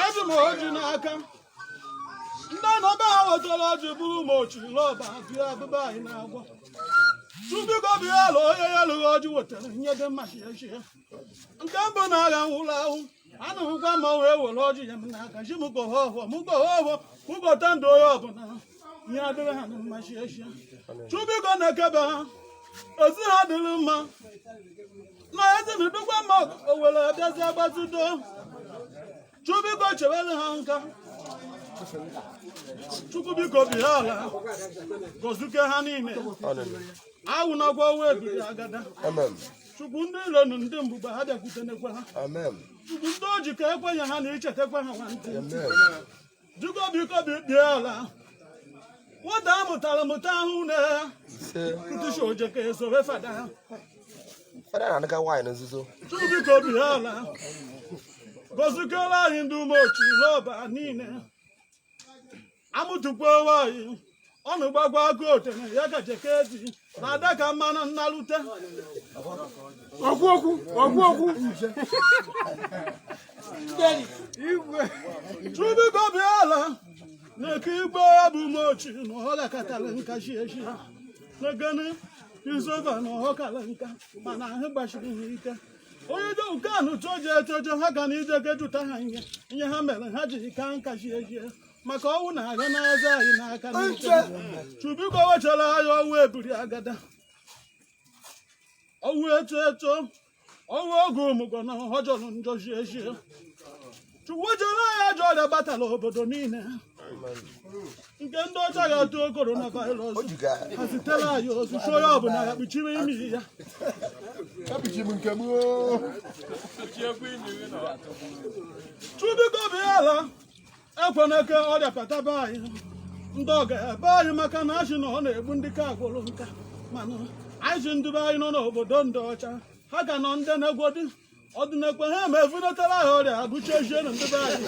eji m ọjị n'aka ndị nọ be ha wetara ọjị bụrụ ma ochiri lọba bịa abụba anyị na-agwa Chukwu biko bịa ala onye ya lụghị ọjị wetara nye dị mma shie shie nke mbụ na agha nwụrụ ahụ anụhụkwa ma wee were ọjị a m n'aka ji m gọọ ọhọ m gọọ ọhọ m gọta ndụ onye ọbụla ihe adịrị ha na mma shie shie Chukwu biko na-ekebe ha ezi ha dịrị mma na ezinụdụkwa ma owere abịazi agbazido Chukwu biko chewere ha nka chukwu biko bịa ala gọzuke ha niile anwụnakwa ọnwụ ebiri agada Amen. chukwu ndị ilo na ndị mbụba ha abịakwutenekwa ha Amen. chukwu ndị oji ka ekwenye ha na ichetakwa ha nwantị Amen. Chukwu biko bi- bịa ala nwata a mụtara mụta ahụ na ya Ise. kụtụchi oje ka esowe fada ha Fada na-anụka nwaanyị na nzuzo. chukwu biko bịa ala gọzikere anyị ndị umeochi n'ọba niile amụtakwa nwaanyị ọnụ gbagwa agụ otene ya gaje ka edi na ada ka mmanụ na-alụte ọgọ ukwu ọgọ ukwu Chukwu biko bịa ala na-eke igbo ya bụ mochi na ọ gakatara nka shie shie negene izova na ọ kara nka mana ahụ gbashiri ha ike onye do nke anụ toje etoje ha ga na ije ga-ajụta ha ihe ihe ha mere ha jiri kaa nka shie shie maka ọnwụ na aga n'aza anyị n'aka n'ike Chukwu biko wechara anyị ọnwụ ebiri agada ọnwụ eto eto ọnwụ oge ọmụgwọ na ọ jọrọ njọ shie shie chukwu zeere anyị ajọ ọrịa batara obodo niile nke ndị ọcha na-etu corona virus ha zitere anyị ozi sị onye ọbụla ya kpuchiri imi ya Chukwu biko bịa ala ekwenekwa ọrịa bata be anyị ndị ọga ebe anyị maka na a sị na ọ na-egbu ndị kagworo nka mana anyị sị ndị be anyị nọ n'obodo ndị ọcha ha ga-anọ ndụ na-egwodi ọdịnekwe ha ma e vunetara ha ọrịa agụchi ejie na ndị be anyị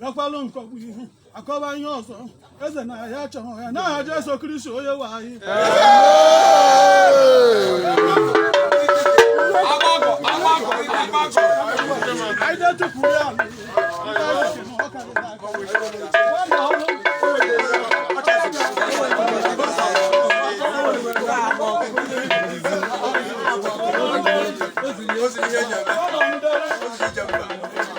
gakwalụ nkọgbu ihu akọwa ihe ọzọ eze na ya chọrọ ya n'aha Jesu Kristi onye nwe anyị anyị na-etupu ya Thank you.